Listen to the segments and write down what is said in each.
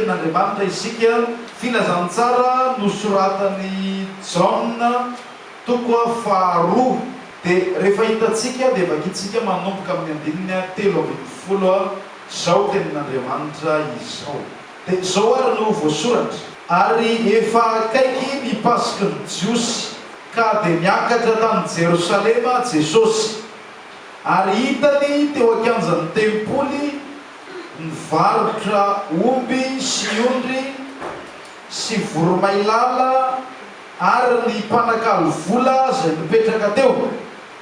Tenin'Andriamanitra isika. Filazantsara nosoratan'i Jaona toko faharoa dia rehefa hitantsika dia vakintsika manomboka amin'ny andininy telo ambin'ny folo izao tenin'Andriamanitra izao. Dia izao ary no voasoratra. Ary efa akaiky ny Pasik'i ny Jiosy, ka dia niakatra tany Jerosalema Jesosy, ary hitany teo an-kianjan'ny tempoly, Mivarotra omby sy ondry sy voromailala ary ny mpanakalo vola izay nipetraka teo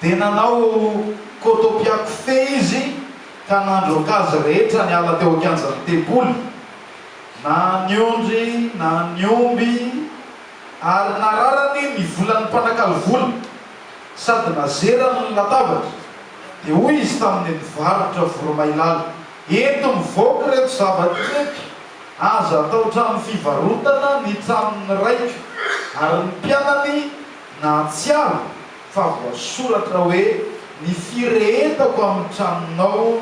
dia nanao kotopiako fey izy ka nandroaka azy rehetra niala teo an-kianjan'ny tempoly, na ny ondry na ny omby, ary nararany ny volan'ny mpanakalo vola. sady nazerany ny latabatra, dia hoy izy tamin'ny mpivarotra voromailala, Ento mivoaka ireto zavatra ireto, aza atao trano fivarotana ny tranon'ny raiko. Ary ny mpianany nahatsiaro fa voasoratra hoe, Ny firehetako amin'ny tranonao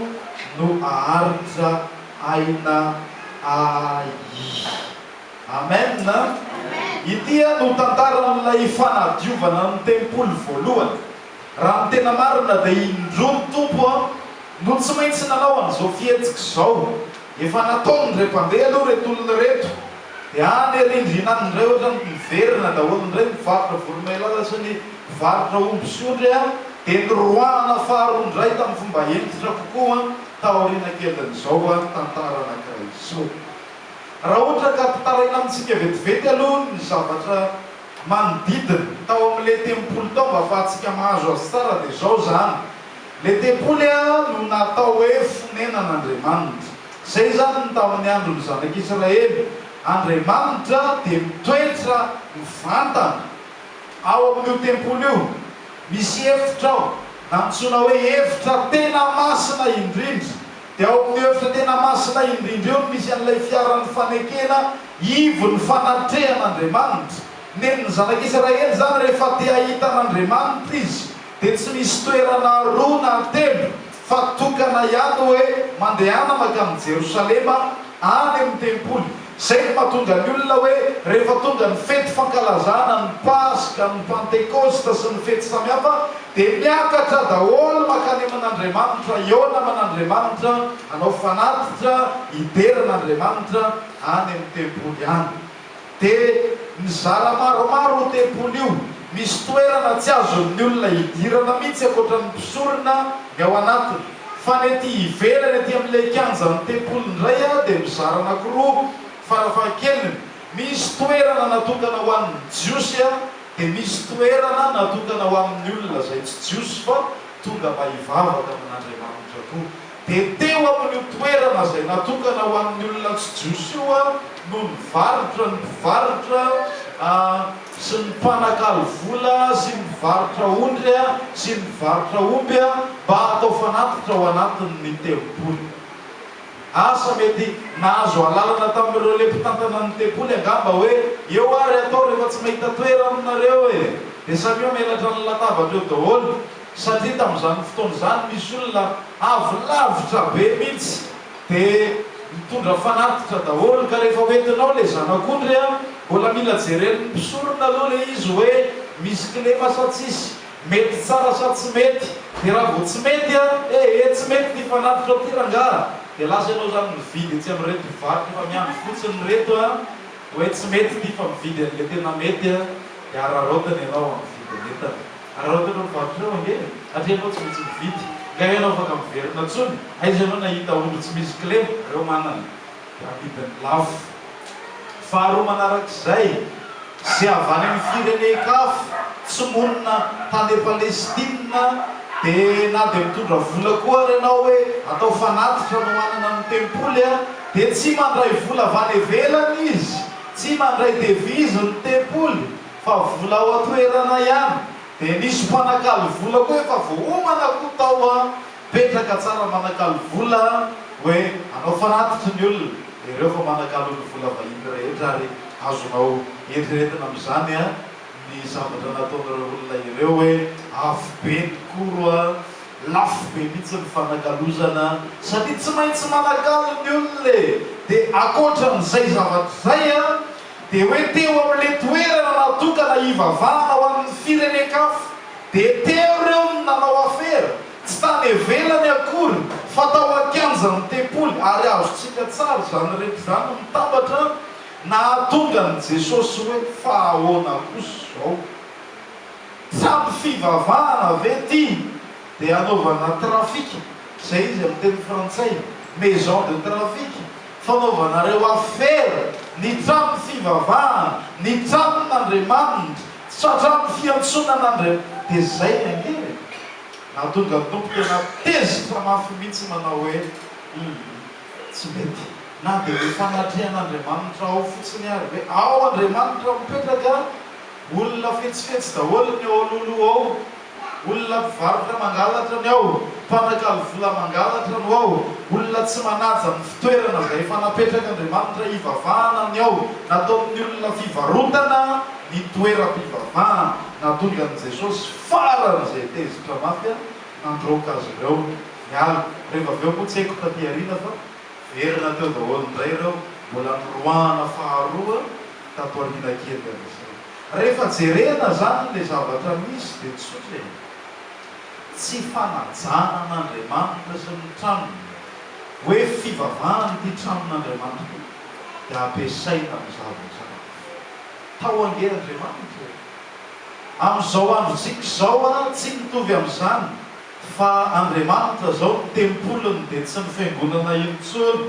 no haharitra aina ahy. Amen! Ity no tantaran'ilay fanadiovana ny tempoly voalohany. Raha ny tena marina dia indroa ny Tompo no tsy maintsy nanao an'izao fihetsika izao. Efa nataony re mpandeha aloha ireto olona ireto. Dia any arindrina any indray ohatran'ny miverina daholo indray ny mpivarotra voromailala sy ny mpivarotra omby sy ondry dia niroahana faharoa indray tamin'ny fomba hentitra kokoa taoriana kelin'izao tantara anankiray izao. Raha ohatra ka ampitaraina amintsika vetivety aloha ny zavatra manodidina, tao amin'ilay tempoly tao, mba hahafahantsika mahazo azy tsara, dia izao izany, Ilay tempoly no natao hoe fonenan'Andriamanitra. Izay izany ny tamin'ny andron'ny Zanak'Isiraely. Andriamanitra dia mitoetra mivantana ao amin'io tempoly io. Misy efitra ao, nantsoina hoe efitra tena masina indrindra. Dia ao amin'ny efitra tena masina indrindra eo no misy an'ilay fiaran'ny fanekena ivon'ny fanatrehan'Andriamanitra. Nen'ny Zanaka Israely izany, rehefa te hahita an'Andriamanitra izy, dia tsy misy toerana roa na telo, fa tokana ihany hoe mandehana mankany Jerosalema, any amin'ny tempoly. Izay no mahatonga ny olona hoe rehefa tonga ny fety fankalazana ny Paska, ny Pantekosta sy ny fety samihafa dia miakatra daholo makany amin'Andriamanitra, hihaona aman'Andriamanitra, hanao fanatitra, hidera an'Andriamanitra any amin'ny tempoly any. Dia nizara maromaro io tempoly io, misy toerana tsy azon'ny olona hidirana mihitsy ankoatran'ny mpisorona ny ao anatiny. Fa ny ety ivelany ety amin'ilay kianjan'ny tempoly indray dia mizara anankiroa, farafahakeliny, misy toerana natokana ho an'ny Jiosy dia misy toerana natokana ho amin'ny olona izay tsy Jiosy fa tonga mba hivavaka amin'Andriamanitra koa. Dia teo amin'io toerana izay natokana ho an'ny olona tsy jiosy io no nivarotra ny mpivarotra sy ny mpanakalo vola sy ny mpivarotra ondry sy ny mpivarotra omby mba hatao fanatitra ao anatin'ny tempoly. Asa mety nahazo alalana tamin'ireo le mpitantana ny tempoly angamba hoe, Eo ary atao rehefa tsy mahita toerana nareo e! Dia samia melatra ny latabatra eo daholo. Satria tamin'izany fotoana izany misy olona avy lavitra be mihitsy dia nitondra fanatitra daholo ka rehefa hoentinao ilay zanak'ondry a, mbola mila jeren'ny mpisorona aloha ilay izy hoe misy kilema sa tsisy, mety tsara sa tsy mety, dia raha vao tsy mety a, eh eh tsy mety ity fanatitra ity rangaha, dia lasa ianao izany mividy etsy amin'ireto mpivarotra efa miandry fotsiny ireto a, hoe tsy mety ity fa mividy an'ilay tena mety a, dia araraotiny ianao amin'ny vidin'entana. Araoty ireo mpivarotra ireo ange e! Hatria ianao tsy maintsy mividy. Nga ianao afaka miverina tsony? Aiza ianao nahita ondry tsy misy kle? Reo manana. Amidiny lafo. Faharoa manarak'izay, ze avy any amin'ny firenen-kafo tsy monina tany Palestina de na de mitondra vola koa ary ianao hoe atao fanatitra no hanana ny tempoly a, de tsy mandray vola avy any ivelany izy, tsy mandray devise ny tempoly. Fa vola ao an-toerana ihany dia nisy mpanakalo vola koa efa voaomana koa tao an, petraka tsara manakalo vola an, hoe anao fanatitry ny olona ireo fa manakalo ny vola vahiny rehetra ary azonao eritreretina amin'izany an ny zavatra nataon'ireo olona ireo hoe afobe ny koro an, lafo be mihitsy ny fanakalozana satria tsy maintsy manakalo ny olona e, dia akoatran'izay zavatra izay an Dia hoe teo amin'ilay toerana natokana hivavahana ho an'ny firenen-kafa, dia teo ireo no nanao afera, tsy tany ivelany akory fa tao an-kianjan'ny tempoly, ary azontsika tsara izany rehetra izany mitambatra nahatonga an'i Jesosy hoe, Fa ahoana kosa izao? Tsy ampy fivavahana ve ity? Dia hanaovana trafika, izay izy amin'ny teny frantsay, maison de trafic, Fanaovanareo afera ny tranon'ny fivavahana, ny tranon'Andriamanitra, tratran'ny fiantsoana an'Andriam-, dia izay ny ange e! Nahatonga ny Tompo tena tezitra mafy mihitsy manao hoe, Humm, tsy mety, na dia ny fanatrehan'Andriamanitra ao fotsiny ary hoe, Ao Andriamanitra mipetraka, olona fetsifetsy daholo ny ao alohaloha ao. Olona mpivarotra mangalatra ny ao, mpanakalo vola mangalatra no ao, olona tsy manaja ny fitoerana izay efa napetrak'Andriamanitra hivavahana ny ao. Nataon'ny olona fivarotana ny toeram-pivavahana. Nahatonga an'i Jesosy faran'izay tezitra mafy ary nandroaka azy ireo niala. Rehefa avy eo moa tsy haiko taty aoriana fa niverina teo daholo indray ireo mbola niroahana faharoa tato aoriana kely an'izay. Rehefa jerena zany ilay zavatra misy dia tsotra e! Tsy fanajana an'Andriamanitra sy ny tranony hoe fivavahana ity tranon'Andriamanitra ity dia ampiasaina amin'ny zavatra hafa. Tao ange Andriamanitra e! Amin'izao androntsika izao an, tsy mitovy amin'izany fa Andriamanitra izao ny tempoliny dia tsy ny fiangonana intsony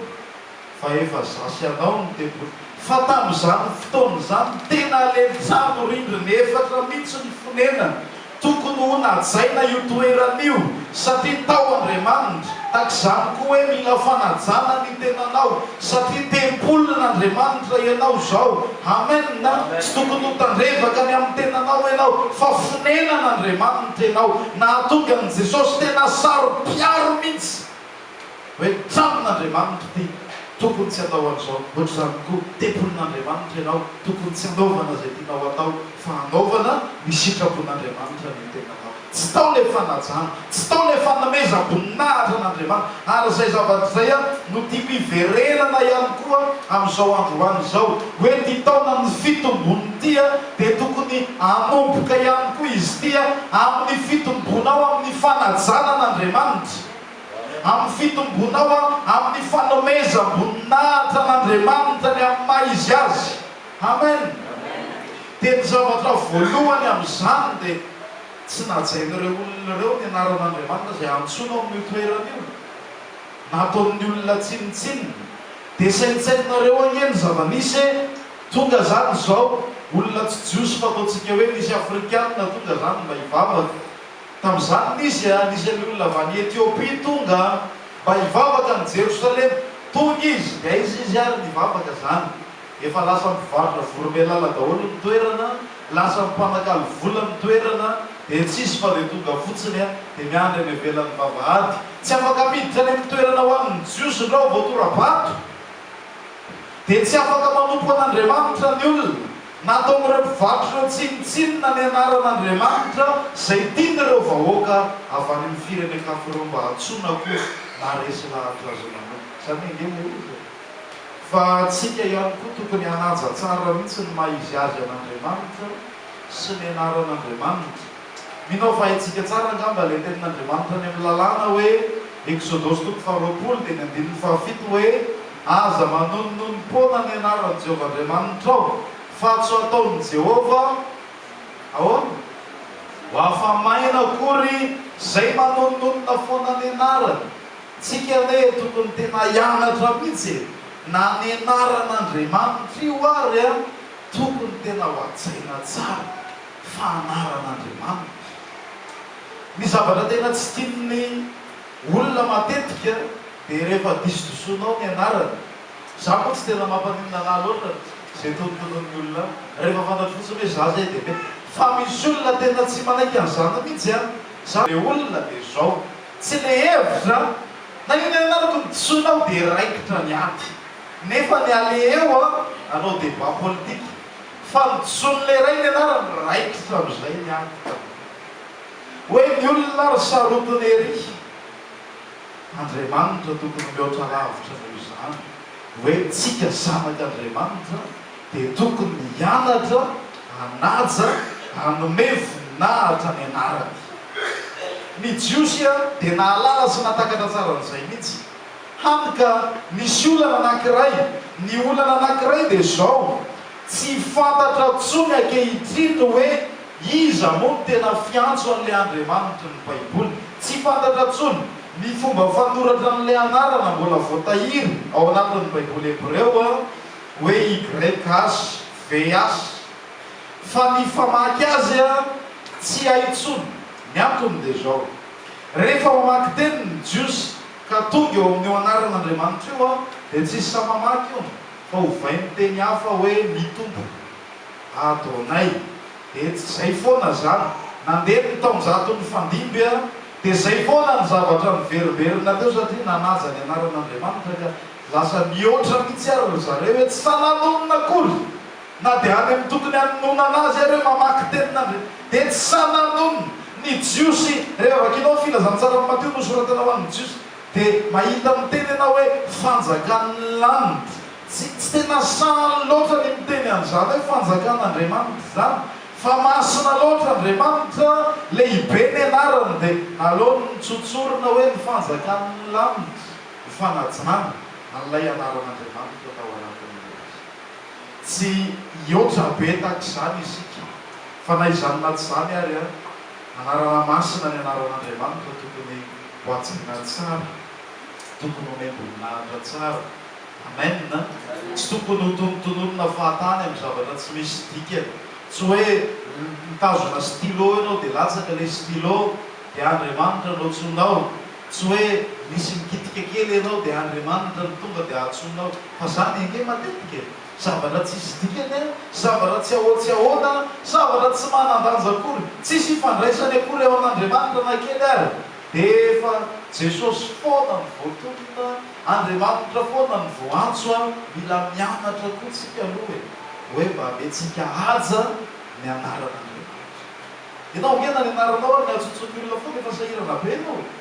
fa efa za sy anao no tempoly fa tamin'izany fotoana izany tena alemy tsamo rindrina efatra mitsy ny fonenany tokony ho najaina io toerana io satria tao Andriamanitra takizany koa hoe mila fanajana ny tenanao satria tempolin' Andriamanitra ianao zao amen tsy tokony ho tandrevaka ny amin'ny tenanao ianao fa fonenan' Andriamanitra ianao nahatonga an'i Jesosy tena saro piaro mitsy Hoe tsaron' Andriamanitra ity, tokony tsy atao an'izao, hoatr'izany koa, tempolin' Andriamanitra ianao, tokony tsy anaovana izay tianao atao, fa anaovana ny sitrapon' Andriamanitra ny tenanao. Tsy tao ilay fanajana, tsy tao ilay fanomezam-boninahitra an' Andriamanitra. Ary izay zavatra izay no tiako hiverenana ihany koa amin'izao androany izao, hoe ity taonan' ny fitombon' ity dia tokony hanomboka ihany koa izy ity amin'ny fitombonao amin'ny fanajana an' Andriamanitra. amin'ny fitombonao amin'ny fanomezam-boninahitra an'Andriamanitra ny amin'ny maha izy azy. Amen. Dia ny zavatra voalohany amin'izany dia tsy najain'ireo olona ireo ny anaran'Andriamanitra izay antsoinao amin'io toerana io. Nataon'ny olona tsinontsinona. Dia saintsaininareo anie ny zava-nisy e, tonga izany izao olona tsy jiosy fataontsika hoe nisy afrikana tonga izany mba hivavaka. Tamin'izany ny izy, ary nisy ny olona avy any Etiopia tonga mba hivavaka any Jerosalema. Tonga izy, dia aiza izy ary nivavaka izany? Efa lasa mpivarotra voromailala daholo ny toerana, lasa mpanakalo vola ny toerana, dia tsy hisy fa dia tonga fotsiny a! dia miandry any ivelan'ny vavahady. Tsy afaka miditra any amin'ny toerana ho an'ny Jiosy indray vao tora-bato, dia tsy afaka manompo an'Andriamanitra ny olona. Nataon'ireo mpivarotra ireo tsinontsinona ny anaran'Andriamanitra izay tian'ireo vahoaka avy any amin'ny firenen-kafa ireo mba hantsoina koa na resy lahatra azy manokana. Izany ange ilay izy e! Fa antsika ihany koa tokony hanaja tsara mihitsy ny maha izy azy an'Andriamanitra sy ny anaran'Andriamanitra. Mino aho fa haintsika tsara angamba ilay tenin'Andriamanitra any amin'ny Lalàna hoe, Eksodosy toko faharoapolo teny andininy fahafito hoe, Aza manonononom-poana ny anaran'i Jehovah Andriamanitrao, fatso ataon'i Jehovah ahoana? Ho afa-maina akory izay manononona foana ny anarany. Tsika anie tokony tena hianatra mihitsy e! Na ny anaran'Andriamanitra io ary an, tokony tena ho hajaina tsara. fa anaran'Andriamanitra. Ny zavatra tena tsy tian'ny olona matetika dia rehefa disidosonao ny anarany. Za moa tsy tena mampaninona anah loatra izay tonontonon'ny olona rehefa fantatro fotsiny hoe za zay dia mety. Fa misy olona tena tsy manaiky an'izany mihitsy an! Za le olona dia zao, tsy le hevitra an! Na inona na inona araka ny disonao dia raikitra ny ady. Nefa ny aleheo an, hanao débat politique Fa ny jon'ilay ray nianarany raikitra amin'izay ny ady taminy. Hoe ny olona ary sarotiny ery. Andriamanitra tokony mihoatra lavitra noho izany. Hoe tsika zanak'Andriamanitra dia tokony hianatra hanaja, hanome voninahitra ny anarany. Ny Jiosy dia nahalala sy nahatakatra tsara an'izay mihitsy. Hany ka misy olana anankiray. Ny olana anankiray dia izao, tsy fantatra intsony ankehitriny ny hoe iza moa no tena fiantso an'ilay Andriamanitry ny Baiboly. Tsy fantatra intsony ny fomba fanoratra an'ilay anarana mbola voatahiry ao anatin'ny Baiboly hebreo hoe YHVH. Fa ny famaky azy tsy hay intsony. Ny antony dia izao, rehefa mamaky teny ny Jiosy, Ka tonga eo amin'io anaran'Andriamanitra io aho, dia tsy hisy saha-mamaky io, fa hovain'ny teny hafa hoe ny Tompo. Adonai. Dia tsy izay foana izany. Nandeha ny taonjato nifandimby an, dia izay foana ny zavatra niverimberina teo, satria nanaja ny anaran'Andriamanitra, ka lasa nihoatra mihitsy ary ry zareo hoe tsy sahy nanonona akory. Na dia any amin'ny tokony hanononana azy ary hoe mamaky tenin'Andria dia tsy sahy nanono ny Jiosy. Rehefa vakianao ny Filazantsaran'i Mateo nosoratana ho an'ny Jiosy dia mahita miteny ianao hoe fanjakan'ny lanit. Tsy tsy tena sahy loatra ny miteny an'izany hoe fanjakan'Andriamanitra izany fa masina loatra Andriamanitra, lehibe ny anarany dia aleony notsotsorina hoe ny fanjakan'ny lanitra ho fanajana an'ilay anaran'Andriamanitra tao anatin'ny Baiboly. Tsy hihoatra be tahaka izany isika, fa na izany na tsy izany ary an, anarana masina ny anaran'Andriamanitra tokony ho hajaina tsara, tokony honem-boninahitra tsara. Amen an! Tsy tokony hotonotononina fahatany amin'ny zavatra tsy misy dikany. Tsy hoe mitazona stylo ianao dia latsaka ilay stylo dia Andriamanitra no antsoinao. Tsy hoe misy mikitika kely ianao dia Andriamanitra no tonga dia antsoinao. Fa zany ange matetika e! Zavatra tsisy dikany an! Zavatra tsy ahoa tsy ahoana an! Zavatra tsy manan-danja akory! Tsisy ifandraisany akory eo an'Andriamanitra na kely ary! De efa Jesosy foana no voatonona, Andriamanitra foana no voantso an! Mila mianatra koa tsika aloha e! Hoe mba amentsika haja ny anaran'Andriamanitra! Enao ange na ny anaranao ary ny hajotson'ny olona foana efa sahirana be enao e!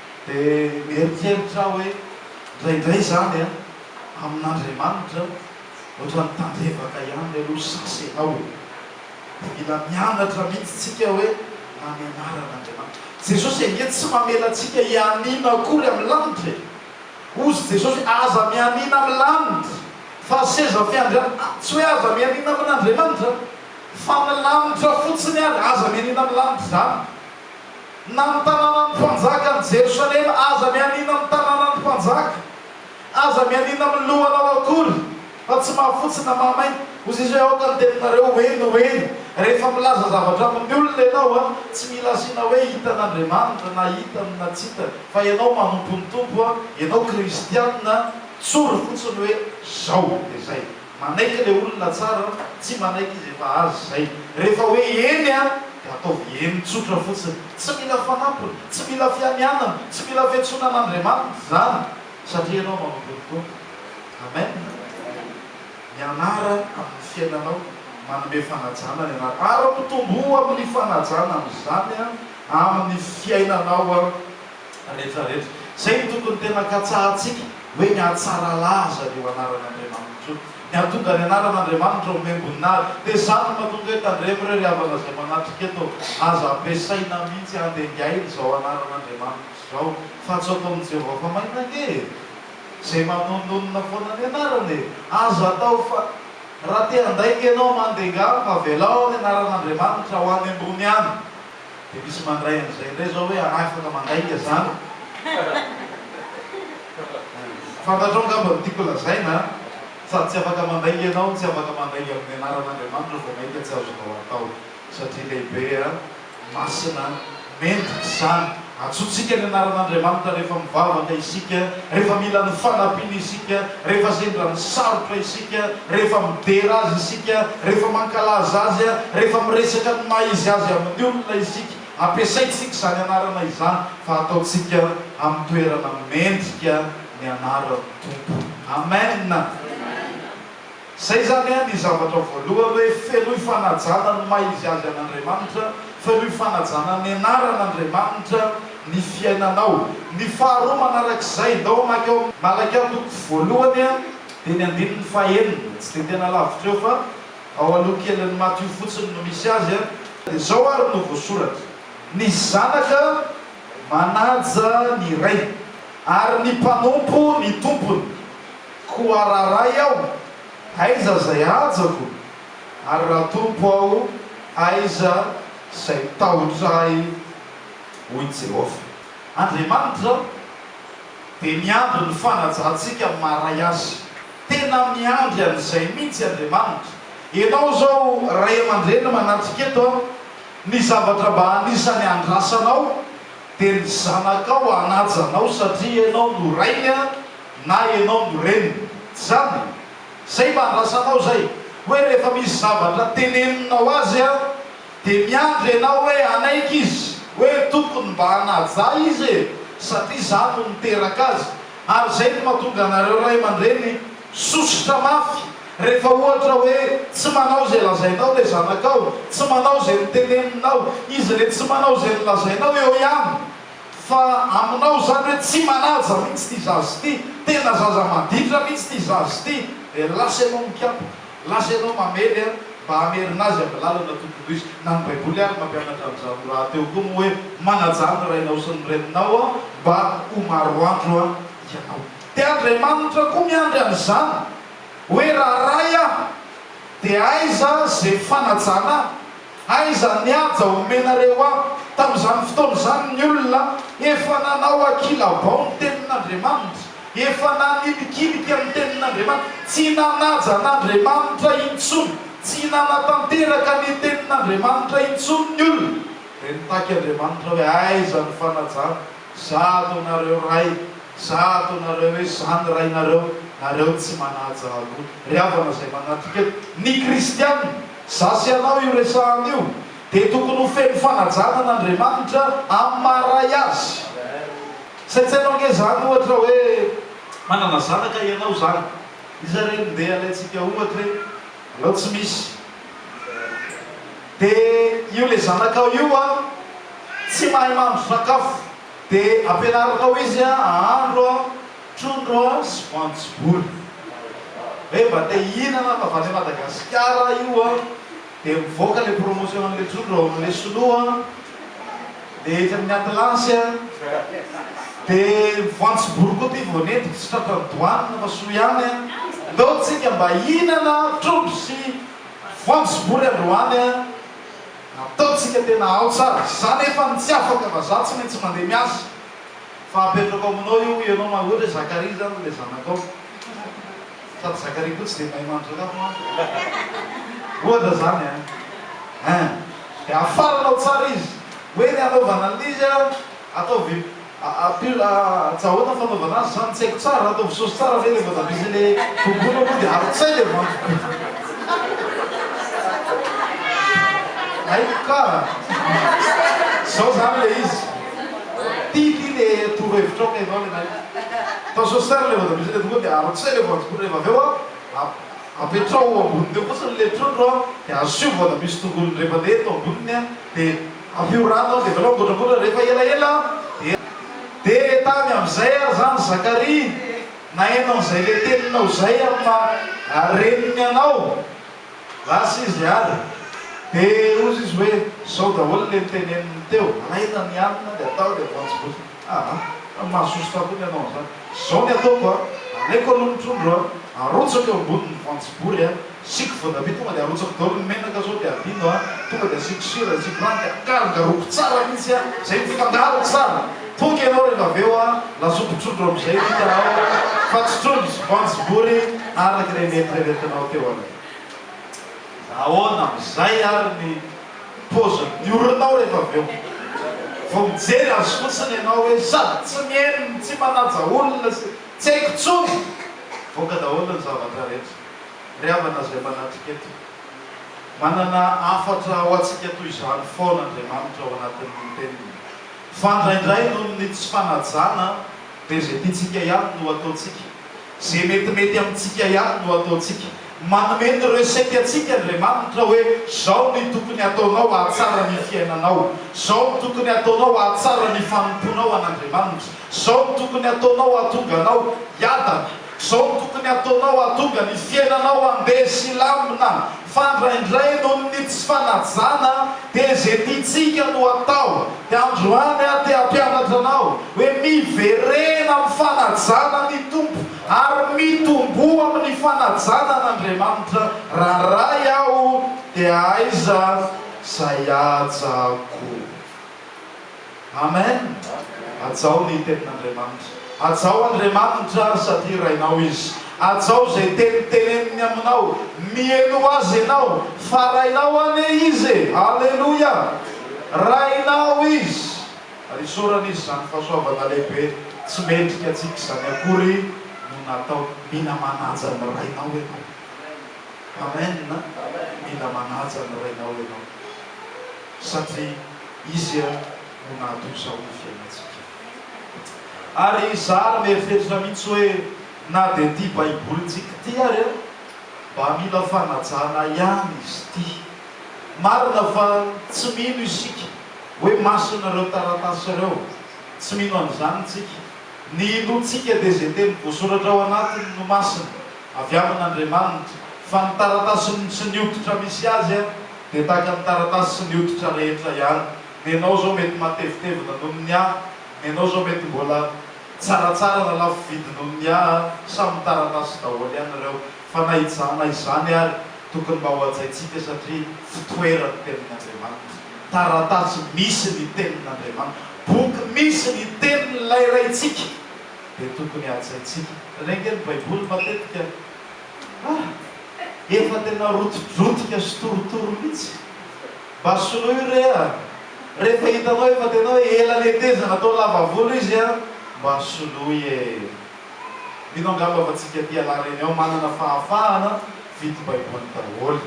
Dia mieritreritra aho hoe, indraindray izany an, amin'Andriamanitra, ohatran'ny tandrevaka ihany aloha sasy ianao e. Dia mila mianatra mihitsy tsika hoe na ny anaran'Andriamanitra. Jesosy ange tsy mamela antsika hianiana akory amin'ny lanitra e. Hozy Jesosy hoe, aza mianiana amin'ny lanitra, fa ny seza fiandrianana, tsy hoe aza mianiana amin'Andriamanitra, fa ny lanitra fotsiny ary, aza mianiana amin'ny lanitra izany. na ny tanànan'ny mpanjaka ny Jerosalema, aza mianiana amin'ny tanànan'ny mpanjaka, aza mianiana amin'ny lohanao akory, fa tsy mahafotsy na mahamaina, hoy Jesosy, hoe aoka ny teninareo ho heno ho heno. Rehefa milaza zavatra amin'ny olona ianao, tsy mila asiana hoe hitan'Andriamanitra na hitany na tsy hitany, fa ianao manompo ny Tompo, ianao kristiana, tsory fotsiny hoe izao dia izay. Manaiky le olona tsara tsy manaiky izy efa azy zay. Rehefa hoe eny an de ataovy eny tsotra fotsiny. Tsy mila fanampiny, tsy mila fianianana, tsy mila fiantsoana an'Andriamanitra zany satria ianao manompo ny Tompo. Amen. Mianara amin'ny fiainanao manome fanajana ny anarany ary mitomboa amin'ny fanajana amin'izany amin'ny fiainanao. retraretra. Izay no tokony tena katsahantsika hoe ny hatsara laza io anaran'Andriamanitra io. Ny hahatonga ny anaran'Andriamanitra ho mihaimboninahy. Dia izany no mahatonga hoe tandremo ireo ry havana izay manatrika eto, aza ampiasaina mihitsy handengaina izao anaran'Andriamanitra izao fa tsy ataon'i Jehovah fa maina ange e! Izay manononona foana ny anarany e! Aza atao fa raha te handainga ianao mandenga amiko, avelao ny anaran'Andriamanitra ho any ambony any. Dia misy mandray an'izay indray izao hoe anah afaka mandray ny azano? Fantatrao angamba ny tiako lazaina an! Sady tsy afaka mandray ianao no tsy afaka mandray amin'ny anaran'Andriamanitra vao mainka tsy azonao atao satria lehibe an! Masina an! Mendrika izany! Antsointsika ny anaran'Andriamanitra rehefa mivavaka isika, rehefa mila ny fanampiany isika, rehefa sendra misarotra isika, rehefa midera Azy isika, rehefa mankalaza Azy, rehefa miresaka ny maha izy Azy amin'ny olona isika. Ampiasaintsika izany anarana izany, fa ataontsika amin'ny toerana mendrika ny anaran'ny Tompo. Amen! Izay izany an, ny zavatra voalohany hoe feroy fanajana ny maha izy azy an' Andriamanitra, feroy fanajana ny anaran' Andriamanitra ny fiainanao. Ny faharoa manaraka izay, ndao hamaky ao amin' Malakia toko voalohany an, dia ny andininy fahenina, tsy dia tena lavitra eo fa ao aloha kelin' ny Matio fotsiny no misy azy an, dia izao ary no voasoratra, Ny zanaka manaja ny rainy, ary ny mpanompo ny tompony. Koa raha ray aho, aiza izay hajako? Ary raha tompo aho, aiza izay tahotra ahy? hoy Jehovah. Andriamanitra dia miandry ny fanajantsika amin'ny maha ray Azy. Tena miandry an'izay mihitsy Andriamanitra. Ianao izao ray aman-dreny manatrika eto, ny zavatra mba anisany andrasanao dia ny zanakao hanaja anao satria ianao no rainy. Na ianao no reniny. Tsy izany e. Izay mba andrasanao izay. Hoe rehefa misy zavatra teneninao azy an, dia miandry ianao hoe hanaiky izy. Hoe tokony mba hanaja izy e, satria izaho no niteraka azy. Ary izay no mahatonga anareo ray aman-dreny sosotra mafy, rehefa ohatra hoe tsy manao izay lazainao ilay zanakao, tsy manao izay noteneninao. Izy re tsy manao izay nolazainao eo ihany. Fa aminao izany hoe tsy manaja mihitsy ity zaza ity, tena zaza maditra mihitsy ity zaza ity, dia lasa ianao mikapoka, lasa ianao mamely an, mba hamerina azy amin'ny lalana tokony ho izy. Na ny Baiboly ary mampianatra an'izany ho rahateo koa moa hoe, Manajà ny rainao sy ny reninao an, mba ho maro andro an, ianao. Dia Andriamanitra koa miandry an'izany, hoe raha ray aho, dia aiza izay fanajana ahy? Aiza ny haja omenareo ahy? Tamin'izany fotoana izany ny olona efa nanao ankilabao ny tenin'Andriamanitra, efa nanilikilika ny tenin'Andriamanitra, tsy nanaja an'Andriamanitra intsony, tsy nanatanteraka ny tenin'Andriamanitra intsony ny olona. Dia nitaky Andriamanitra hoe, Aiza ny fanajana? Zato nareo ray, zato nareo hoe zany rainareo, nareo tsy manaja aloha. Ry havana izay manatrika eto, ny kristiana, Za sy anao io resahana io dia tokony ho feno fanajana an' Andriamanitra amin'ny maha Ray Azy. Saintsaino ange izany ohatra hoe manana zanaka ianao izany, iza re no ndeha alaintsika ohatra e? alao tsy misy, dia io ilay zanakao io an, tsy mahay mahandro sakafo, dia ampianarinao izy an, ahandro an, Trondro sy voanjobory. Hoe mba te hihinana fa avy any Madagasikara io an, dia mivoaka le promotion an'le trondro ao amin'le sinoa an, le etsy amin'ny atlasy an, dia ny voanjobory koa ty vao nentiko tsy tratran'ny douane fa soa ihany an, ndao tsika mba hihinana trondro sy voanjobory androany an, ataontsika tena ao tsara, za nefa no tsy afaka fa za tsy maintsy mandeha miasa. Fa apetrako aminao io ianao ma ohatra hoe Zakaria zany ilay zanakao sady Zakaria koa tsy dia mahay mahandro sakafo mantsy ohatra zany an eh dia afaranao tsara izy hoe ny hanaovana an'izy an ataovy pur ats ahoana ny fanaovana azy zany tsy haiko tsara ataovy sauce tsara ve ilay voatabia sy ilay tongolo aloha dia avy tsy hay dia voanjo hay ka zao zany ilay izy Tiako iny e, toro hevitrao kay vao le may. Tazoa sary le voatabisa le tonga de arotsay le voanjobory rehefa avy eo an, apetraho eo amboniny eo fotsiny le trondro an, de asio voatabia sy tongolo indrefana eto amboniny an, de ampio rano an, de avelao migotragotra rehefa elaela an, de de tany amzay ary zany Zakaria naheno anzay le teninao zay am maha reniny anao. Lasa izy ary dia hozy izy hoe, izao daholo ilay noteneniny teo, alaina ny hanina dia atao dia voanjo goty. Aa! fa mahasosotra koa ny hanao an'izany. Izao ny ataoko an! alaiko aloha ny trondro an! arotsako eo amboniny ny voanjobory an! asiako voatabia tonga dia arotsako daholo ny menaka izao dia adino an! tonga dia asiako sira, asiako rano dia akarongaroako tsara mihitsy an! izay mifangaroko tsara! Poky ianao rehefa avy eo an, nasokotsotro amin'izay ny hitanao fa tsy trondro sy voanjo vory araka ilay nieritreretinao teo aloha. Fa ahoana amin'izay ary ny paozin'ny oronao rehefa avy eo? Vao mijery azy fotsiny ianao hoe sady tsy mihaino no tsy manaja olona sy tsy haiko intsony! Mivoaka daholo ny zavatra rehetra. Ry havana izay manatrika eto, manana hafatra ho antsika toy izany foana Andriamanitra ao anatin'ny Teniny. Fa indraindray noho ny tsy fanajana dia izay tiantsika ihany no ataontsika, izay metimety amintsika ihany no ataontsika. Manome ny recette antsika Andriamanitra hoe izao ny tokony ataonao hahatsara ny fiainanao, izao ny tokony ataonao hahatsara ny fanompoanao an'Andriamanitra, izao ny tokony ataonao hahatonga anao hiadana, izao ny tokony ataonao hahatonga ny fiainanao handeha sy hilamina. Fa indraindray noho ny tsy fanajana dia izay tiantsika no atao. Dia androany aho te hampianatra anao hoe miverena amin'ny fanajana ny Tompo ary mitomboa amin'ny fanajana an'Andriamanitra raha Ray aho dia aiza izay haja koa. Amen Hajao ny tenin'Andriamanitra Hajao Andriamanitra ry satria Rainao Izy Hajao izay teny teneniny aminao Miely ho Azy ianao Fa Rainao anie Izy e Aleloia Rainao Izy Ary isaorana Izy Izany fahasoavana lehibe Tsy mendrika antsika izany akory no natao Mila manaja ny Rainao ianao Amen Mila manaja ny Rainao ianao. satria Izy no nahatonsa ho fiainantsika. Ary izaho mieritreritra mihitsy hoe na dia ity Baibolintsika ity ary an, mba mila fanajana ihany izy ity. Marina fa tsy mino isika hoe masina ireo taratasy ireo, tsy mino an'izany isika. Ny inoantsika dia izay teny voasoratra ao anatiny no masina, avy amin'Andriamanitra, fa ny taratasy tsy ny hoditra misy azy an, Dia tahaka ny taratasy sy ny hoditra rehetra ihany. Ny anao izao mety matevitevina noho ny ahy, ny anao izao mety mbola tsaratsara na lafo vidy noho ny ahy, samy taratasy daholo ihany ireo. Fa na iza na izany ary, tokony mba hohajaintsika satria fitoeran'ny Tenin'Andriamanitra. Taratasy misy ny Tenin'Andriamanitra, boky misy ny Tenin'ilay Raintsika, dia tokony hajaintsika. Renge ny Baiboly matetika. Ah! efa tena rotidrotika sy torotoro mitsy. Mba soloy re a! Rehefa hitanao efa tena hoe ela netezana atao lava volo izy a! Mba soloy e! Mino angamba fa tsika tia lahy reny ao manana fahafahana vidy baiboly daholo.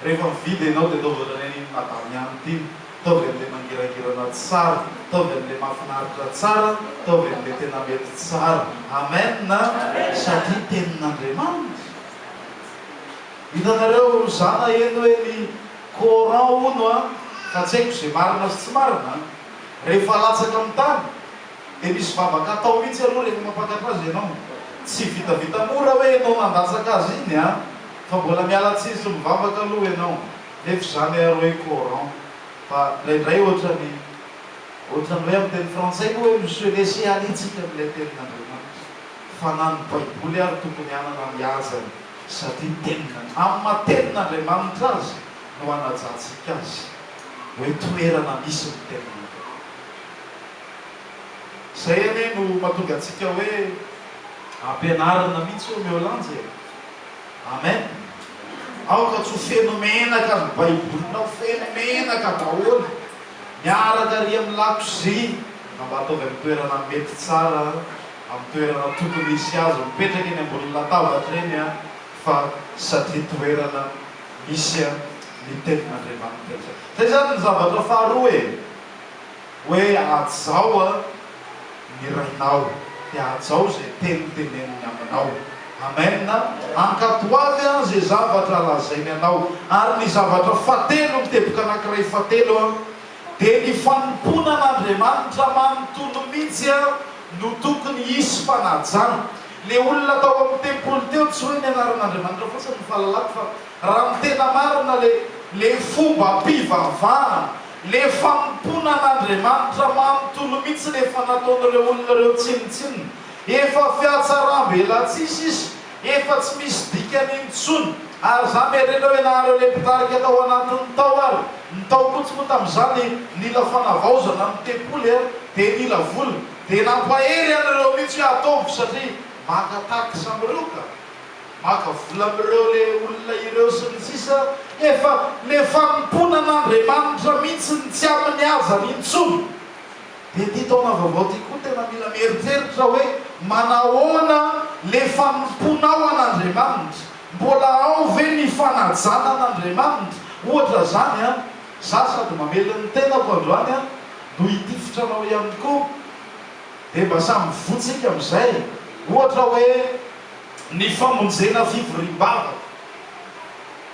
Rehefa mividy enao de ataovy otrany an iny madame ihany tiny. Ataovy anle mangirangirana tsara, ataovy anle mafinaritra tsara, ataovy anle tena mety tsara. Amen a! Satria tenin'Andriamanitra. Hitanareo zana eny hoe ny coran hono an, ka tsy haiko ze marina sy tsy marina an, rehefa latsaka amin'ny tany de misy vavaka atao mitsy aloha rehefa mampakatra azy enao, tsy vitavita mora hoe enao nandatsaka azy iny an, fa mbola miala tsiny sy mivavaka aloha enao, nefy zany ary hoe coran, fa ndraindray otrany otrany hoe amin'ny teny frantsay moa hoe monsieur laisser aller tsika amin'ilay tenin'Andriamanitra. fa na ny Baiboly ary tokony hanana ny hajany satria tenin'An. Amin'ny maha tenin'Andriamanitra azy no hanajantsika azy, hoe toerana misy ny tenany. Izay anie no mahatonga antsika hoe ampianarina mihitsy hoe omeo lanja e! Amen! Aoka tsy ho feno menaka ny Baibolinao, feno menaka daholo, miaraka ary amin'ny lakozia, fa mba ataovy amin'ny toerana mety tsara. amin'ny toerana tokony hisy azy mipetraka eny ambony latabatra eny fa satria toerana misy ny tenin'Andriamanitra izay. Izay izany ny zavatra faharoa e! Hoe hajao ny rainao, dia hajao izay teny teneniny aminao. Amen! Hankatò ho avy izay zavatra lazainy anao. Ary ny zavatra fahatelo, ny teboka anankiray fahatelo, dia ny fanompoana an'Andriamanitra manontolo mihitsy ary no tokony hisy fanajana. Ilay olona tao amin'ny tempoly teo tsy hoe ny anaran'Andriamanitra fotsiny no fahalalako fa raha ny tena marina ilay ilay fombam-pivavahana, ilay fanompoana an'Andriamanitra manontolo mihitsy rehefa nataon'ireo olona ireo tsinontsinona. Efa fihatsarambelatsihy sisa Efa tsy misy dikany intsony ary za merenao ianareo le mpitarika tao anatiny tao ary ny tao koa tsy moa tamizany nila fanavaozana ny tempoly a de nila vola de nampahery anreo mintsy hoe ataovy satria maka taxe amreo ka maka vola amreo le olona ireo sy ny sisa efa le fanompoana an'Andriamanitra mintsy ny tsy aminy ajany intsony Dia ity taona vaovao ity koa tena mila mieritreritra hoe manahoana le fanompoanao an'Andriamanitra? Mbola ao ve ny fanajana an'Andriamanitra? Ohatra zany an, za sady mamely ny tenako androany an, no hitifitra anao ihany koa, dia mba samy mivoha tsika amizay, ohatra hoe ny famonjena fivoriam-bavaka,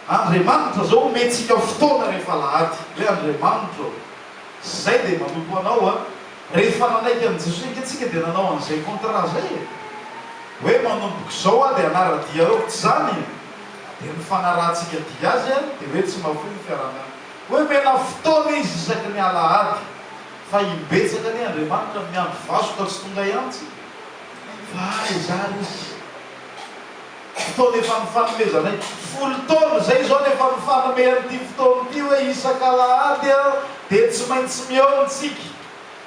Andriamanitra zao omentsika fotoana rehefa alahady, hoe Andriamanitra o, Zay dia manompo anao a! Rehefa nanaiky an'i Jesoa ange tsika dia nanao an'izay contrat zay e! Hoe manomboko zao aho dia hanara-dia aoka, tsy zany e! Dia ny fanarahantsika dia azy a, dia hoe tsy mahafoy ny fiaraha-miasa. Hoe mena fotoana izy isaky ny alahady fa imbetsaka anie Andriamanitra miandry vasoka tsy tonga iantsy fa aiza ary izy? fotoana efa nifanomezanay. Folo taona izay izao no efa nifanome an'ity fotoana ity hoe isaka alahady aho dia tsy maintsy mihaona isika.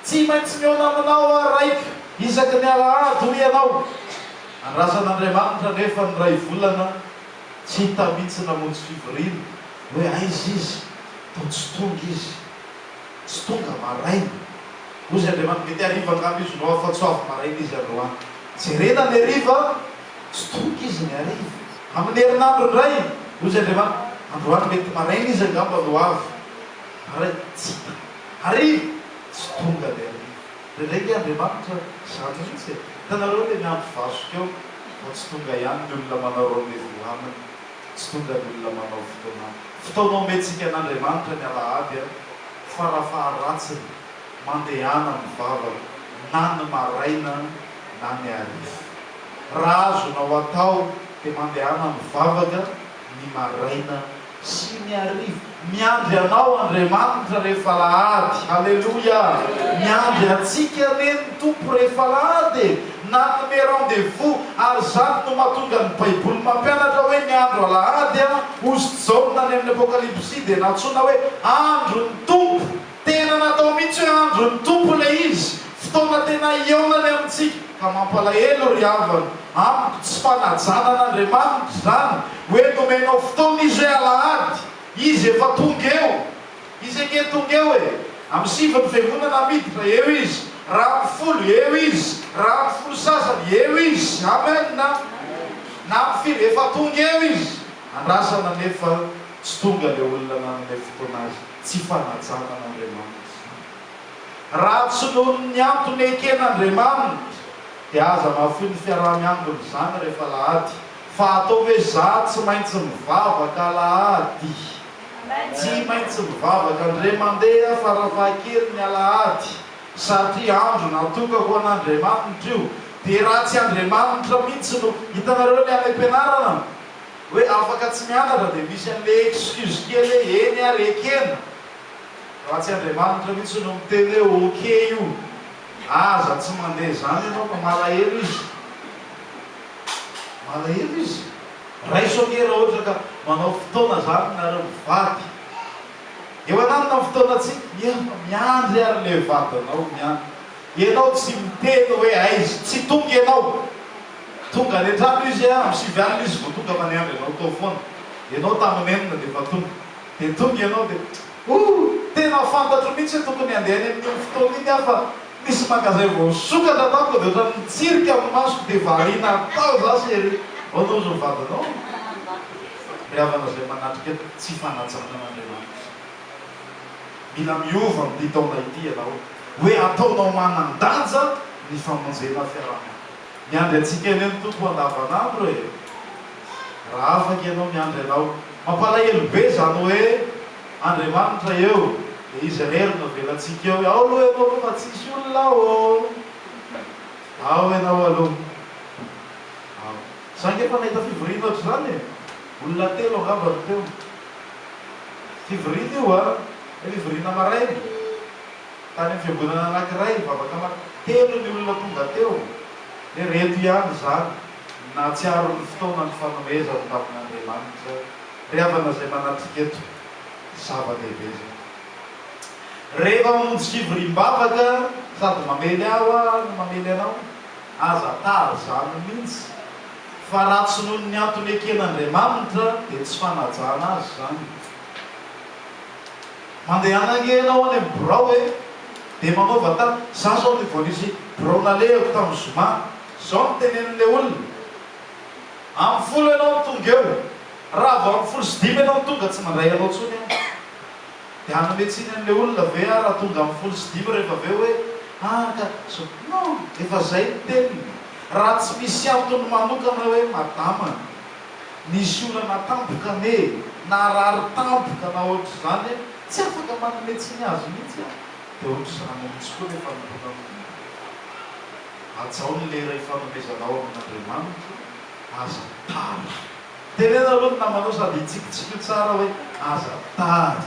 Tsy maintsy mihaona aminao aho raiko isaky ny alahady hoy ianao. Andrasan'Andriamanitra anefa ny Raivolana tsy hita mihitsy namonjy fivoriana hoe aiza izy, toa tsy tonga izy. tsy tonga maraina. Hoy izy Andriamanitra, mety hariva angamba izy no avy fa tsy ho avy maraina izy androany. Jerena ny hariva, tsy tonga izy ny hariva. Amin'ny herinandro indray, hoy izy Andriamanitra, androany mety maraina izy angamba no avy. Maraina, tsy hita. Hariva, tsy tonga ny hariva. Indraindray nge Andriamanitra izany mihitsy e. Hitanareo ilay miandry vasoka eo, vao tsy tonga ihany ny olona manao rendez-vous aminy. Tsy tonga ny olona manao fotoana fotoana omentsika an'Andriamanitra ny alahady an! Farafaharatsiny mandehana mivavaka na ny maraina na ny hariva. Raha azonao atao dia mandehana mivavaka ny maraina sy ny hariva. Miandry anao Andriamanitra rehefa alahady. Aleloia! Miandry antsika anie ny Tompo rehefa alahady e! Nanome rendez-vous, ary izany no mahatonga ny Baiboly mampianatra hoe ny andro alahady, hozy Jaona any amin'ny Apokalypsy dia nantsoina hoe andron'ny Tompo. Tena natao mihitsy hoe andron'ny Tompo ilay izy, fotoana tena hihaonany amintsika. Ka mampalahelo ry havana, amiko tsy fanajana an'Andriamanitra izany, hoe nomenao fotoana Izy hoe alahady, Izy efa tonga eo. Izy ange tonga eo e! Amin'ny sivy ny fiangonana miditra, eo Izy. Raha amin'ny folo, eo Izy. Raha amin'ny folo sasany, eo Izy. Amen a! Na amin'ny firy, efa tonga eo Izy. Andrasana anefa tsy tonga ilay olona nanome fotoana Azy. Tsy fanajana an'Andriamanitra. Raha tsy noho ny antony eken'Andriamanitra dia aza mahafoy ny fiaraha-miambina izany rehefa alahady fa ataovy hoe za tsy maintsy mivavaka alahady, tsy maintsy mivavaka ndre mandeha farafahakeliny ny alahady satria andro natoka ho an'Andriamanitra io dia raha tsy Andriamanitra mihitsy no, hitanareo ilay any am-pianarana? hoe afaka tsy mianatra dia misy an'le excuse kely hoe eny ary ekena raha tsy Andriamanitra mihitsy no miteny hoe ok io aza tsy mandeha zany ianao fa malahelo izy malahelo izy raiso ange raha ohatra ka manao fotoana zany nareo mivady eo ananona ny fotoanantsika nefa miandry ary le vadinao miandry ianao tsy miteny hoe aiza tsy tonga ianao Tonga any antrano izy a, am sivy alina izy vao tonga fa niandry anao tao foana ianao tamin enina dia efa tonga. Dia tonga ianao dia oh! tena fantatro mihitsy hoe tokony handeha any amin iny fotoana iny aho fa nisy magasin voasokatra tamiko dia ohatran nitsirika am masoko dia variana tao za sy ery. Ahoana ozy ny vadinao? Ry havana izay manatrika tsy fanajanana Andriamanitra. Mila miova am ty taona ity ianao hoe ataonao manan danja ny famonjena fiaraha monina. Miandry antsika anie ny Tompo andavan'andro e! Raha afaka ianao miandry Anao. Mampalahelo be izany hoe Andriamanitra eo dia Izy irery no avelantsika eo. Ao aloha ianao aloha fa tsisy olona ô! Ao ianao aloha. Ao. Za nge efa nahita fivoriana ohatr'izany e! Olona telo angamba no teo. Fivoriana io an! Ilay fivoriana maraina. tany amin'ny fiangonana anankiray nivavaka mafy. Telo ny olona tonga teo. Dia ireto ihany izany, Nahatsiaro ny fotoana ny fanomezan'ny tavin'Andriamanitra ry havana izay manatrika eto. Zava-dehibe izany. Rehefa mamonjy fivoriam-bavaka sady mamely ahy hoa no mamely anao, aza tary izany mihitsy, fa raha tsy noho ny antony eken'Andriamanitra dia tsy fanajana azy izany. Mandehana ange ianao any amin'ny birao e! Dia manaova ta, za izao ny vao nisy birao nalehako tamin'ny zoma, izao no tenenin'ilay olona, amin'ny folo ianao no tonga eo, raha vao amin'ny folo sy dimy ianao no tonga tsy mandray anao intsony aho. Dia hanome tsiny an'ilay olona ve aho raha tonga amin'ny folo sy dimy rehefa avy eo hoe, ah ka izao, non, efa izay ny teniny, raha tsy misy antony manokana hoe madama. Nisy olana tampoka anie e! Narary tampoka na ohatr'izany e! Tsy afaka manome tsiny azy mihitsy aho. Dia ohatr'izany mihitsy koa ilay fanompoana mivonto. Hajao ny lera ifanomezanao amin'Andriamanitra, aza tara. Teneno aloha ny namanao sady hitsikitsikio tsara hoe. Aza tady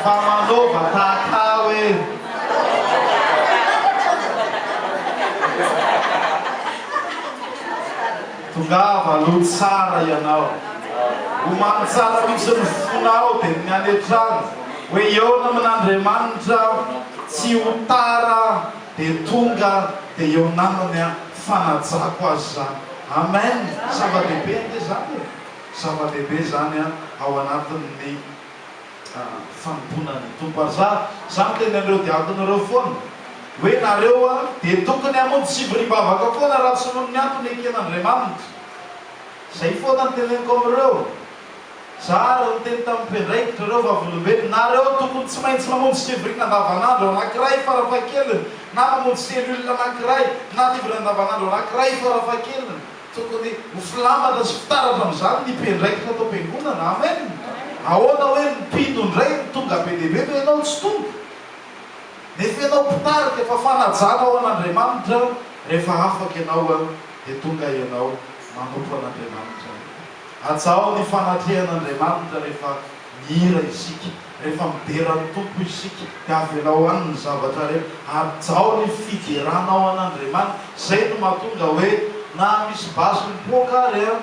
fa manao vataka hoe. Tongava aloha tsara ianao, omano tsara mihitsy ny fonao dia ny any an-trano hoe eona amin'Andriamanitra aho, tsy ho tara dia tonga dia eo namany aho, fanajako azy izany. Amen! Zava-dehibe ange izany e! Zava-dehibe izany ao anatin'ny fanompoana ny Tompo. Ary za, za miteny an'ireo diakona ireo foana hoe nareo dia tokony hamonjy tsibiribavaka foana raha tsy noho ny antony eken'Andriamanitra. Izay foana no teneniko amin'ireo. Za ary niteny tamin'ny mpiandraikitra ireo vavolombelona, nareo tokony tsy maintsy mamonjy tsibiriana andavanandro anankiray farafahakeliny, na mamonjy cellule anankiray, na livre andavanandro anankiray farafahakeliny, Tokony ho filambatra sy fitaratra amin'izany ny mpiandraikitra ato am-piangonana. Amen! Ahoana hoe ny mpino indray no tonga be dia be fa ianao tsy tonga? Nefa ianao mpitarika, fa fanajana ho an'Andriamanitra, rehefa afaka ianao dia tonga ianao manompo an'Andriamanitra. Hajao ny fanatrehan'Andriamanitra rehefa. Mihira isika, rehefa midera ny Tompo isika, dia avelao any ny zavatra rehetra, hajao ny fideranao an' Andriamanitra, izay no mahatonga hoe na misy basy mipoaka ary an,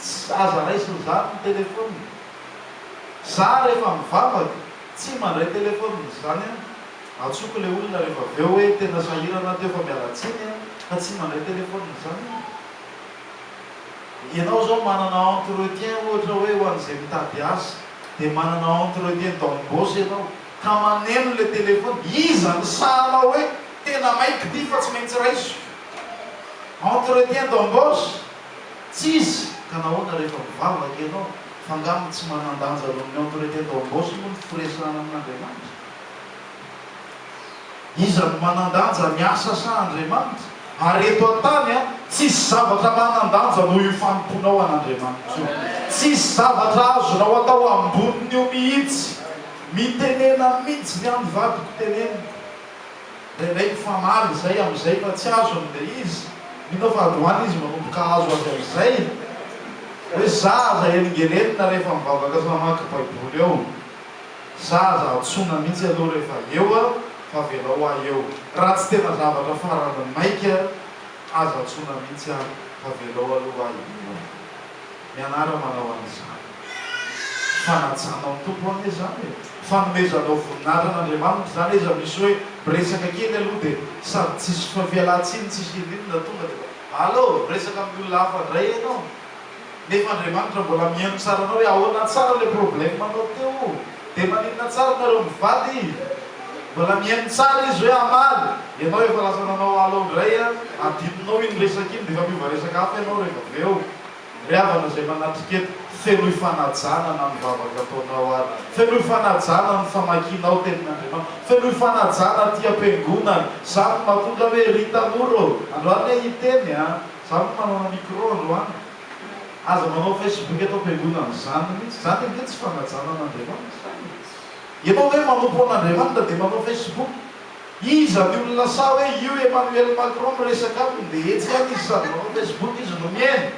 tsy aza raisina izany ny telefaonina. Za rehefa mivavaka, tsy mandray telefaonina izany an, antsoiko ilay olona rehefa avy eo hoe tena sahirana teo fa miala tsiny an, fa tsy mandray telefaonina izany an. Ianao izao manana entretien ohatra hoe ho an'izay mitady asa, dia manana entretien d'embauche ianao, ka maneno ilay telefaona, iza no sahanao hoe tena maika ity fa tsy maintsy raisiko? Entretien d'embauche? Tsisy! Ka nahoana rehefa mivavaka ianao? F'angamba tsy manan-danja noho ny entretien d'embauche moa ny firesahana amin'Andriamanitra? Iza no manan-danja, ny asa sa Andriamanitra? Ary eto an-tany, tsisy zavatra manan-danja noho io fanompoanao an'Andriamanitra io. Tsisy zavatra azonao atao ambonin'io mihitsy. Mitenena mihitsy ny an'ny vadiko teneniko. Indraindray mifamaly izay amin'izay fa tsy azony ilay izy. Mino aho fa androany izy manomboka hahazo azy amin'izay. Hoe zaza helingelenina rehefa mivavaka sy mamaky Baiboly eo. Za aza antsoina mihitsy aloha rehefa eo aho fa avelao ahy eo. Raha tsy tena zavatra farany maika aza antsoina mihitsy aho fa avelao aloha ahy eo. Mianara manao an'izany. Fanajanao ny Tompo anie izany e. Fanomezanao voninahitra an'Andriamanitra izany aiza misy hoe miresaka kely aloha dia sady tsisy fialantsiny tsisy ininona tonga dia efa allo! miresaka amin'ny olona hafa indray ianao. nefa Andriamanitra mbola mihaino tsara anao hoe ahoana tsara le problème anao teo de maninona tsara nareo mivady mbola mihaino tsara izy hoe hamaly ianao efa lasa nanao alao ndray a adinonao iny resaka iny de efa miova resaka hafa ianao rehefa avy eo ry havana zay manatrika eto fenoy fanajana na ny vavaka ataonao ary fenoy fanajana ny famakianao tenin'Andriamanitra fenoy fanajana aty am-piangonana zany no mahatonga hoe ry tanora ô androany aho hiteny a Za no manana micro androany. Aza manao facebook eto am-piangonana. Izany mihitsy. Izany ange tsy fanajana an'Andriamanitra izany e. Ianao ve manompo an'Andriamanitra dia manao facebook? Iza ny olona sahy hoe io Emmanuel Macron miresaka aminy dia etsy ihany izy sady manao facebook izy no mihaino?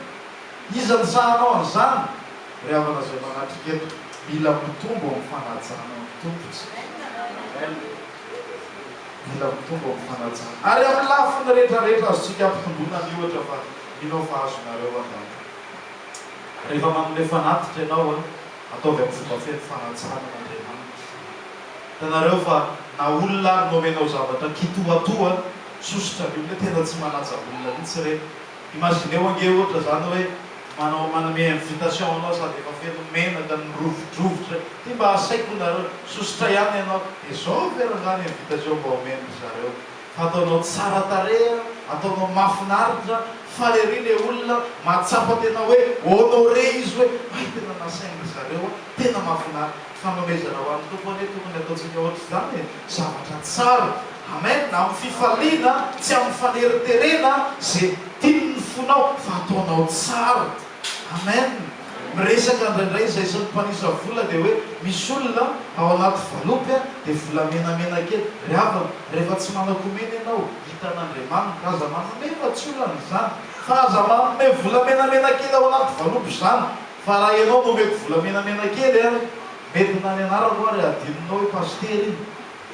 Iza ny sahy hanao an'izany? Ry havana izay manatrika eto, mila mitombo amin'ny fanajana ny Tompo isika. mila mitombo amin'ny fanajana. Ary amin'ny lafiny rehetrarehetra azontsika ampitomboina ny ohatra fa mino aho fa azonareo angamba. Rehefa manome fanatitra ianao an, ataovy amin'ny fomba feno fanatsarana an'Andriamanitra. Hitanareo fa na olona ary no omenao zavatra kitoatoa an, sosotra ny olona hoe tena tsy manaja olona mihitsy ireny. Imagineo ange ohatra zany hoe manao manome invitation anao sady efa feno menaka mirovidrovitra ty mba asaiko nareo sosotra ihany ianao de zao ve ra zany invitation mba omen ry zareo fa ataonao tsara tarehy a ataonao mafinaritra faly ery le olona mahatsapa tena hoe honore izy hoe hay tena nasain ry zareo a tena mafinaritra. Fanomezana ho an'ny Tompo anie tokony ataontsika ohatr'izany e! Zavatra tsara! Amen! Amin'ny fifaliana, tsy amin'ny faneriterena ze tiany ny fonao fa ataonao tsara! Amen! Miresaka indraindray izay sy ny mpanisa vola dia hoe misy olona ao anaty valopy a! dia vola menamena kely, ry havana rehefa tsy manakomena ianao hitan'Andriamanitra, aza manome fa tsy olana izany, fa aza manome vola menamena kely ao anaty valopy izany, Fa raha ianao no omeko vola menamena kely ary nentina ny anarako ary hadinonao i Pasitera iny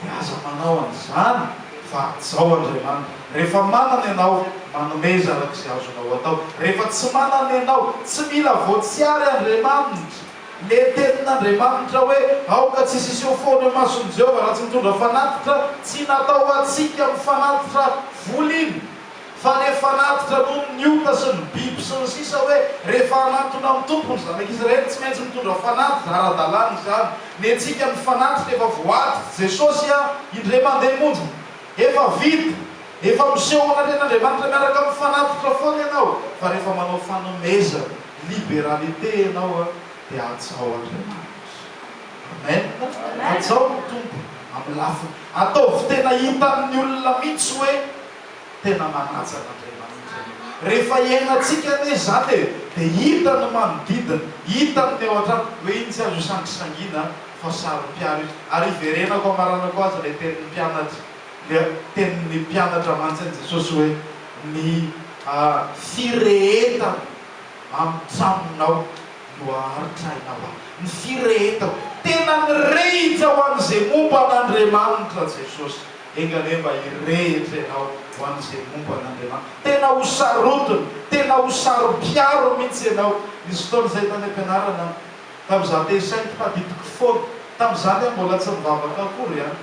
dia aza manao an'izany fa hajao Andriamanitra. Rehefa manana ianao, manomeza araka izay azonao atao. Rehefa tsy manana ianao, tsy mila voatsiary Andriamanitra. Le tenin'Andriamanitra hoe aoka tsy siseho foana eo mason'i Jehovah raha tsy mitondra fanatitra, tsy natao ho antsika mifanatitra vola iny. fa rehefa ratitra noho ny ota sy ny biby sy ny sisa hoe rehefa hanantona amin'ny Tompo ny Zanak' Israely tsy maintsy mitondra fanatitra ara-dalàna izany ny antsika ny fanatitra efa voaditry Jesosy a indray mandeha monja efa vita efa miseho manatrena Andriamanitra miaraka amin'ny fanatitra foana ianao fa rehefa manao fanomezana liberalité ianao a dia hajao Andriamanitra Amen hajao ny Tompo amin'ny lafiny ataovy tena hitan'ny olona mihitsy hoe Tena manaja an'Andriamanitra ianao. Rehefa iainantsika anie izany e, dia hita ny manodidina, hita ny ao an-trano. Hoe iny tsy azo isangisangiana fa saropiaro izy. Ary iverenako hamaranako azy ilay tenin'ny mpianatra, ilay tenin'ny mpianatra mantsin'i Jesosy hoe, Ny firehetako amin'ny tranonao no haharitra aina ho ahy. Ny firehetako. Tena nirehitra ho an'izay momba an'Andriamanitra Jesosy. Enga anie mba hirehitra ianao ho an'izay momba an'Andriamanitra. Tena ho sarotiny, tena ho sarom-piaro mihitsy ianao. Nisy fotoana izay tany am-pianarana aho, tamin'izaho te-hisaingy, tadidiko foana. Tamin'izany aho mbola tsy nivavaka akory an!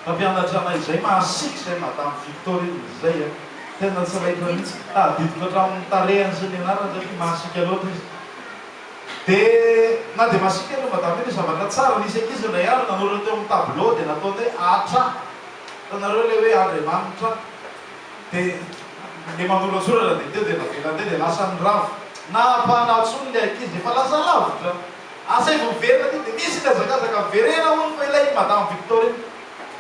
Mpampianatra anay izay, mahasiaka izay Madame Victorine izay an! Tena tsy raikitra mihitsy. Tadidiko hatramin'ny tarehiny sy ny anarany satria mahasiaka loatra izy. Dia na dia masiaka aloha madame io dia zavatra tsara, nisy ankizy indray andro nanoratra teo amin'ny tableau dia nataony hoe Atra, hitanareo ilay hoe Andriamanitra dia ilay manoratsoratra dia teo dia navelany teo dia lasan'ny rava, nahampanahy tsony ilay ankizy efa lasa lavitra, asa efa miverina aty dia misy ny hazakazaka miverena hono fa ilay madame Victorine,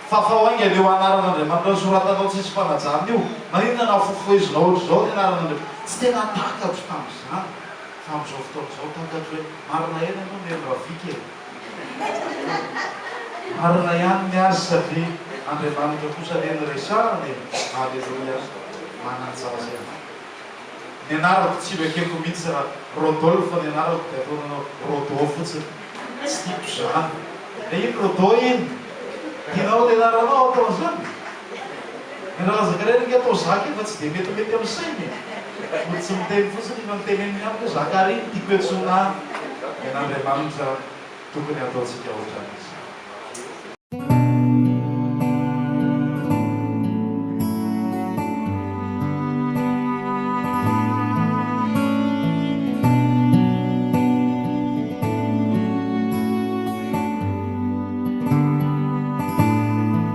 fafao haingana io anaran'Andriamanitra nosoratanao tsisy fanajana io, maninona nafofohezinao ohatr'izao ny anaran'Andriamanitra, tsy tena takako tamin'izany Fa amin'izao fotoana izao takatro hoe marina ihany ianao Neny Raviky e! Marina ihany ny azy satria Andriamanitra kosa anie no resahana e! Alléluia! Manan-jaza ianao. Ny anarako tsy vakiko mihitsy raha Rodolphe ny anarako dia ataonao Rodo fotsiny. Tsy tiako izany. Dia iny Rodo iny! Tianao ny anaranao atao an'izany? Mirazaka irery nge atao zaka iny fa tsy dia metimety amin'ny saina e! Mody tsy miteny fotsiny iny fa ny teneniny ihany hoe zaka ary iny tiako iantsoana ahy en Andriamanitra tokony ataontsika ohatran'izany.